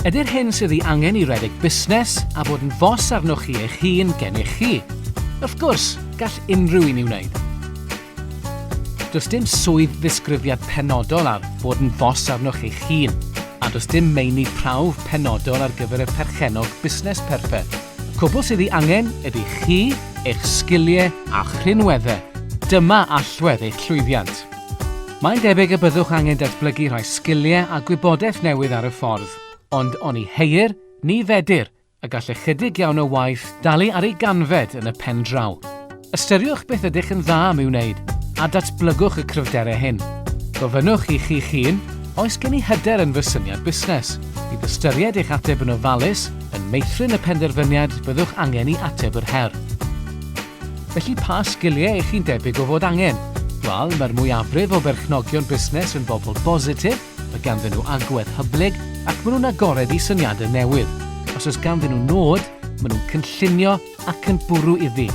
Ydy'r hyn sydd ei angen i redeg busnes a bod yn fos arnoch chi eich hun gennych chi? Wrth gwrs, gall unrhyw un ei wneud. Does dim swydd ddisgrifiad penodol ar fod yn fos arnoch eich hun, a does dim meini prawf penodol ar gyfer y perchennog busnes perffeth. Y cwbl sydd ei angen ydy chi, eich sgiliau a'ch rhinweddau. Dyma allwedd eich llwyddiant. Mae'n debyg y byddwch angen datblygu rhai sgiliau a gwybodaeth newydd ar y ffordd, ond oni heuir, ni fedir, y gall ychydig iawn o waith dalu ar ei ganfed yn y pen draw. Ystyriwch beth ydych yn dda am ei wneud, a datblygwch y cryfderau hyn. Gofynnwch i chi'ch hun, oes gen i hyder yn fy syniad busnes? Bydd ystyried eich ateb yn ofalus yn meithrin y penderfyniad byddwch angen i ateb yr her. Felly pa sgiliau ych chi'n debyg o fod angen? Wel, mae'r mwyafrif o berchnogion busnes yn bobl bositif, mae ganddyn nhw agwedd hyblyg ac maen nhw'n agored i syniadau newydd. Os oes ganddyn nhw nod, maen nhw'n cynllunio ac yn bwrw iddi.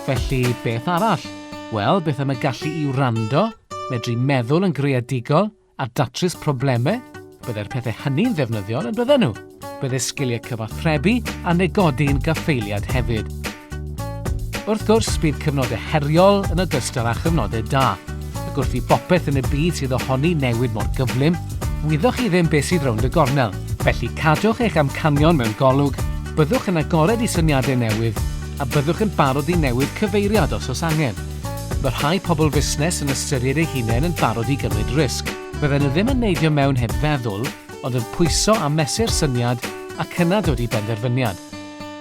Felly, beth arall? Wel, beth am y gallu i wrando, medru meddwl yn greadigol, a datrys problemau, byddai'r pethau hynny'n ddefnyddiol yn bydden nhw. Byddai sgiliau cyfathrebu a negodi'n gaffeiliad hefyd. Wrth gwrs, bydd cyfnodau heriol yn ogystal â chyfnodau da, ac wrth i bopeth yn y byd sydd ohoni newid mor gyflym, wyddoch chi ddim beth sydd rownd y gornel. Felly cadwch eich amcanion mewn golwg, byddwch yn agored i syniadau newydd, a byddwch yn barod i newid cyfeiriad os oes angen. Mae rhai pobl fusnes yn ystyried eu hunain yn barod i gymryd risg. Fydden nhw ddim yn neidio mewn heb feddwl, ond yn pwyso a mesur syniad ac yna dod i benderfyniad.